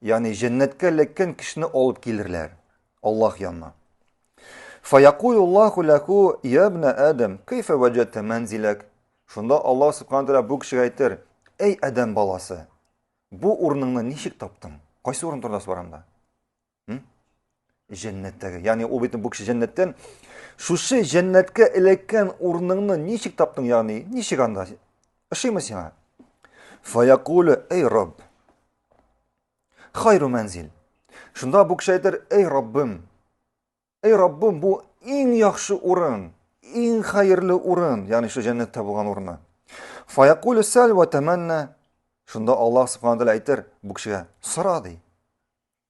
Ягъни җәннәткә эләккән кешене алып килерләр Аллаһ янына. Фаякулуллаху ләху я ибн Адам, кайфа ваҗатта манзилак? Шунда Аллаһ субхану тәгалә бу кешегә әйтер: "Әй Адам баласы, бу урыныңны ничек таптың? Кайсы урын турында сораганда?" Җәннәттәге. Ягъни ул бит бу кеше җәннәттән. Шушы җәннәткә эләккән урыныңны ничек таптың, ягъни ничек анда? Ошыймы сиңа? Фаякулю, эй Рабб. Хайру мәнзил. Шунда бу кеше әйтер, эй Раббым. Эй Раббым, бу иң яхшы урын, иң хәерле урын, ягъни шушы җәннәттә булган урыны. Фаякулю сәл ва таманна. Шунда Аллаһ субханаһу ва әйтер бу кешегә, сора ди.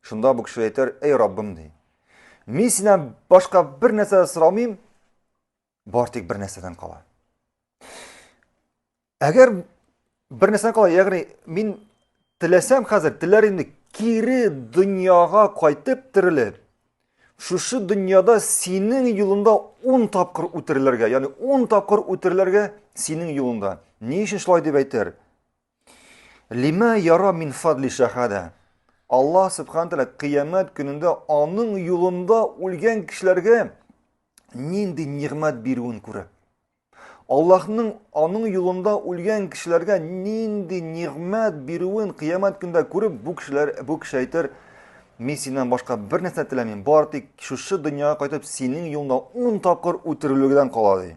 Шунда бу кеше әйтер, эй Раббым ди. Мин синнән башка бер нәрсә дә сорамыйм, бар тик бер нәрсәдән кала. Әгәр бер нәрсәдән кала, ягъни мин теләсәм хәзер, теләр инде кире дөньяга кайтып терелеп, шушы дөньяда синең юлында ун тапкыр үтерелергә, ягъни ун тапкыр үтерелергә синең юлында. Ни өчен шулай дип әйтер? Лима яра мин фадли шахада. Алла субхан тәлә кыямәт көнендә аның юлында үлгән кешеләргә нинди нигъмәт бирүен күрә. Аллаһның аның юлында үлгән кешеләргә нинди нигъмәт бирүен кыямәт көндә күреп, бу кешеләр бу кеше әйтер, мин синнән башка бер нәрсә теләмим, бар тик шушы дөньяга кайтып синең юлыңда 10 тапкыр үтерелүгедән кала ди.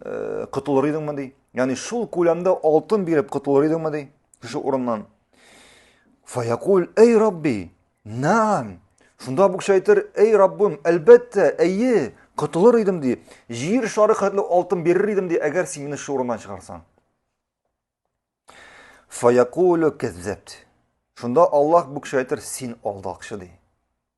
э, котылыр идеңме ди яғни шул көләмдә алтын биреп котылыр идеңме ди кеше урыннан фаякул эй рабби наам шунда бу кеше әйтер эй раббым әлбәттә әйе котылыр идем ди җир шары хәтле алтын бирер идем ди әгәр син мине шул урыннан чыгарсаң фаякулю кәззәбт шунда аллаһ бу кеше әйтер син алдакчы ди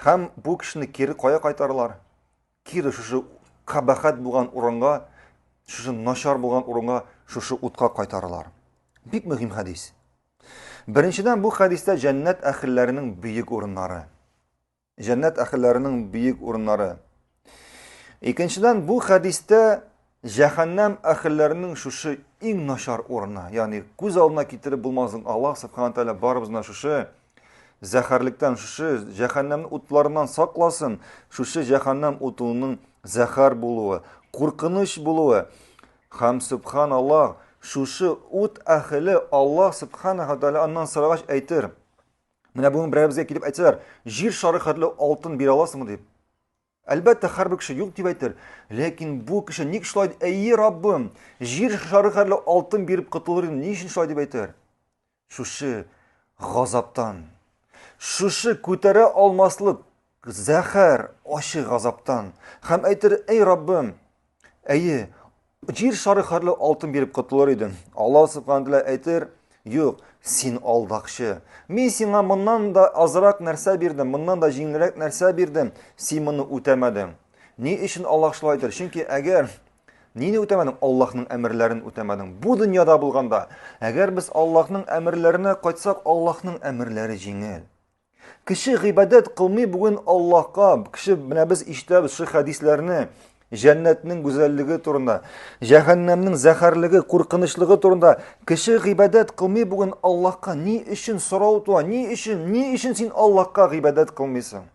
Һәм бу кешене кире кая кайтаралар? Кире шушы кабахәт булган урынга, шушы начар булган урынга, шушы утка кайтаралар. Бик мөһим хәдис. Беренчедән бу хәдистә җәннәт әхелләренең бөек урыннары. Җәннәт әхелләренең бөек урыннары. Икенчедән, бу хәдистә җәһәннәм әхелләренең шушы иң начар урыны, ягъни күз алдына китереп булмасын, Аллаһ субхана тәгалә барыбызны шушы зәхәрлектән, шушы җәһәннәм утларыннан сакласын, шушы җәһәннәм утының зәхәр булуы, куркыныч булуы. Хәм субханаллаһ, шушы ут әхеле Аллаһ субхана тәгалә аннан сорагач әйтер. Менә бүген берәребезгә килеп әйтсәләр, җир шары хәтле алтын бирә аласыңмы дип. Әлбәттә, һәрбер кеше юк дип әйтер, ләкин бу кеше ник шулай дип, әйе, Раббым, җир шары хәрле алтын биреп котылыр идем, ни өчен шулай дип әйтер? Шушы газаптан, шушы күтәрә алмаслык зәхәр, ачы газаптан һәм әйтер, әй Раббым, Әйе, җир шары хәрле алтын биреп котылыр идем. Аллаһ субхана тәгалә әйтер, Юк, син алдакчы. Мин сиңа моннан да азрак нәрсә бирдем, моннан да җиңелрәк нәрсә бирдем, син моны үтәмәдең. Ни өчен Аллаһ шулай әйтер? Чөнки әгәр нине үтәмәдең? Аллаһның әмерләрен үтәмәдең. Бу дөньяда булганда, әгәр без Аллаһның әмерләренә кайтсак, Аллаһның әмерләре җиңел. Кеше гыйбадәт кылмый бүген Аллаһка. Кеше менә без ишетәбез шу хәдисләрне, җәннәтнең гүзәллеге турында, җәһәннәмнең зәһәрлеге, куркынычлыгы турында. Кеше гыйбадәт кылмый бүген Аллаһка. Ни өчен сорау туа? Ни өчен? Ни өчен син Аллаһка гыйбадәт кылмыйсың?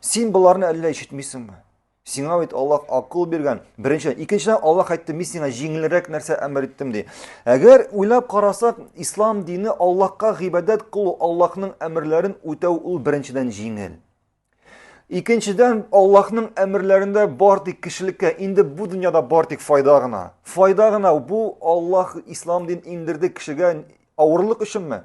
Син боларны әллә ишетмисеңме? Сиңа бит Аллаһ акыл биргән. Беренчедән, икенчедән Аллаһ әйтте, мин сиңа җиңелрәк нәрсә әмер иттем ди. Әгәр уйлап карасак, ислам дине Аллаһка гыйбадәт кылу, Аллаһның әмерләрен үтәү ул беренчедән җиңел. Икенчедән, Аллаһның әмерләрендә бар тик кешелеккә, инде бу дөньяда бар тик файда гына. Файда гына бу Аллаһ ислам дин индерде кешегә авырлык өченме?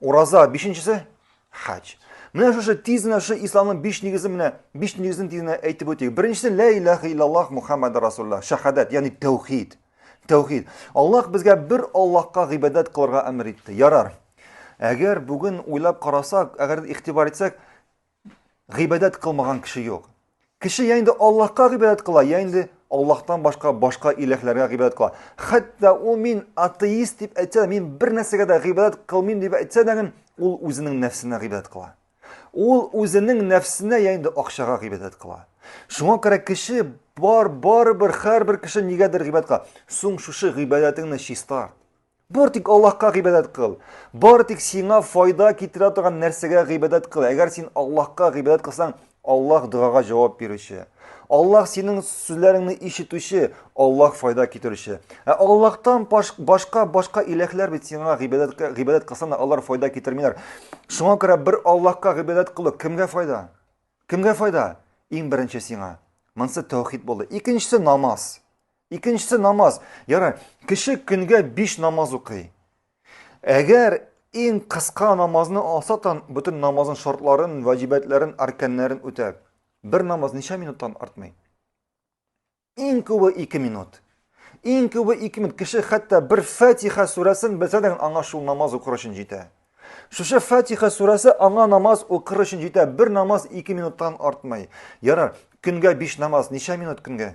Ураза бишенчесе хаҗ. Менә шушы тиз генә шушы исламның биш нигезен менә биш нигезен тиз генә әйтеп үтик. Беренчесе ла илаха иллаллах Мухаммад расулла, шахадат, ягъни тәүхид. Тәүхид. Аллаһ безгә бер Аллаһка гыйбадәт кылырга әмер итте. Ярар. Әгәр бүген уйлап карасак, әгәр игътибар итсәк, гыйбадәт кылмаган кеше юк. Кеше я инде Аллаһка гыйбадәт кыла, я инде Аллаһтан башка башка иләһләргә гыйбадәт кыла. Хәтта ул мин атеист дип әйтсә, мин бер нәрсәгә дә гыйбадәт кылмыйм дип әйтсә дә, ул үзенең нәфсенә гыйбадәт кыла. Ул үзенең нәфсенә я инде акчага гыйбадәт кыла. Шуңа күрә кеше бар барыбер һәрбер кеше нигәдер гыйбадәт кыла. Соң шушы гыйбадәтеңне чистарт. Бары тик Аллаһка гыйбадәт кыл. Бары тик сиңа файда китерә торган нәрсәгә гыйбадәт кыл. Әгәр син Аллаһка гыйбадәт кылсаң, Аллаһ догага җавап бирүче. Аллаһ синең сүзләреңне ишетүче, Аллаһ файда китерүче. Ә Аллаһтан башка башка иләһләр бит сиңа гыйбадәт гыйбадәт кылсаң, алар файда китермиләр. Шуңа күрә бер Аллаһка гыйбадәт кылу кемгә файда? Кемгә файда? Иң беренче сиңа. Монсы тәүхид булды. Икенчесе намаз. Икенчесе намаз. Ярай, кеше көнгә биш намаз укый. Әгәр иң кыска намазны алса тан, бөтен намазның шартларын, ваҗибәтләрен, арканнарын үтә. Бер намаз ничә минуттан артмый? Иң күбе 2 минут. Иң күбе 2 минут. Кеше хәтта бер Фатиха сүрәсен белсә дә аңа шул намаз укыр өчен җитә. Шушы Фатиха сүрәсе аңа намаз укыр өчен җитә. Бер намаз 2 минуттан артмый. Ярар, көнгә 5 намаз ничә минут көнгә?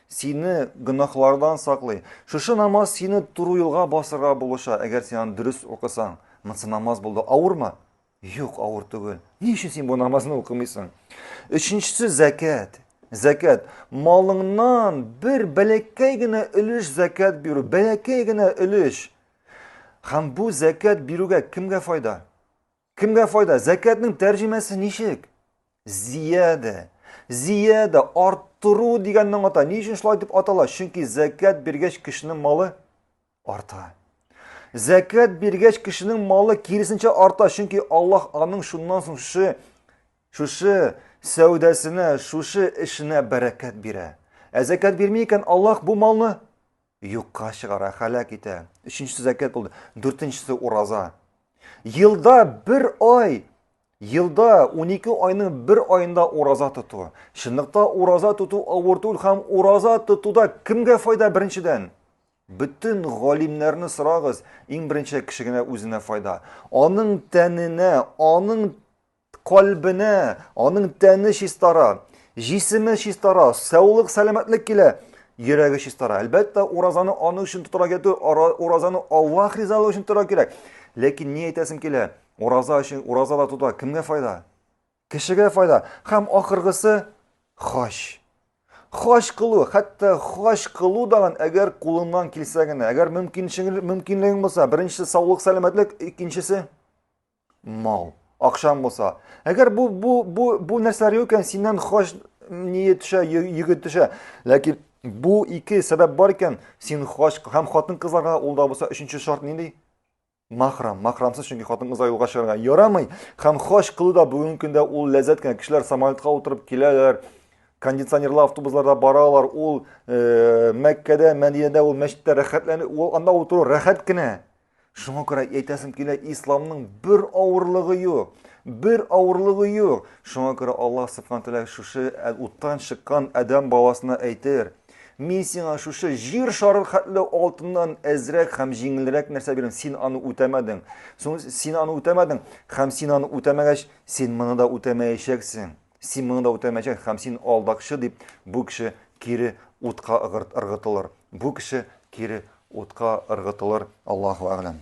сине гөнаһлардан саклый. Шушы намаз сине туры юлга басырга булыша, әгәр син аны дөрес укысаң. Монсы намаз булды. Авырмы? Юк, авыр түгел. Ни өчен син бу намазны укымыйсың? Өченчесе зәкәт. Зәкәт. Малыңнан бер бәләкәй генә өлеш зәкәт бирү, бәләкәй генә өлеш. Һәм бу зәкәт бирүгә кемгә файда? Кемгә файда? Зәкәтнең тәрҗемәсе ничек? Зиядә. Зиядә арттыру дигәнне аңлата. Ни өчен шулай дип атала? Чөнки зәкәт биргәч кешенең малы арта. Зәкәт биргәч кешенең малы киресенчә арта, чөнки Аллаһ аның шуннан соң шушы шушы сәүдәсенә, шушы эшенә бәрәкәт бирә. Ә зәкәт бирми икән Аллаһ бу малны Юкка чыгара, һәлак итә. Өченчесе зәкят булды. Дүртенчесе ураза. Елда бер ай, елда 12 айның бер айында ураза тоту. Чынлыкта ураза тоту авыр түгел һәм ураза тотуда кемгә файда беренчедән? Бөтен галимнәрне сорагыз, иң беренче кеше генә үзенә файда. Аның тәненә, аның Калбенә, аның тәне чистара, җисеме чистара, саулык, сәламәтлек килә, йөрәге чистара. Әлбәттә, уразаны аның өчен тотарга кирәк түгел, уразаны Аллаһ ризалыгы өчен тотарга кирәк. Ләкин ни әйтәсем килә? Ураза өчен ураза да тота, кемгә файда? Кешегә файда. Һәм ахыргысы хаҗ. Хаҗ кылу, хәтта хаҗ кылу дагын әгәр кулыңнан килсә генә, әгәр мөмкинлегең булса, беренчесе саулык, сәламәтлек, икенчесе Мал. Акшам булса. Әгәр бу бу бу бу нәрсәләр юк икән, синнән хаҗ ние төшә, йөге төшә. Ләкин бу ике сәбәп бар икән, син хаҗ һәм хатын-кызларга ул да булса өченче шарт нинди? Махрам, махрамсыз, чөнки хатын-кызлар юлга чыгарга ярамый. Һәм хаҗ кылу да бүгенге көндә ул ләззәт кенә. Кешеләр самолетка утырып киләләр, кондиционерлы автобусларда баралар, ул э, Мәккәдә, Мәдинәдә, ул мәчеттә рәхәтләнеп, ул анда утыру рәхәт кенә. Шуңа күрә әйтәсем килә, исламның бер авырлыгы юк. Бер авырлыгы юк. Шуңа күрә Аллаһ Субхану тәгалә шушы ә, уттан чыккан Адәм баласына әйтер. Мин сиңа шушы җир шары хәтле алтыннан әзрәк һәм җиңелрәк нәрсә бирәм. Син аны үтәмәдең. Соң син аны үтәмәдең һәм син аны үтәмәгәч, син моны да үтәмәячәксең. Син моны да үтәмәячәк һәм син алдакчы дип бу кеше кире утка ыргытылыр. Бу кеше кире утка ыргытылыр. Аллаһу әгъләм.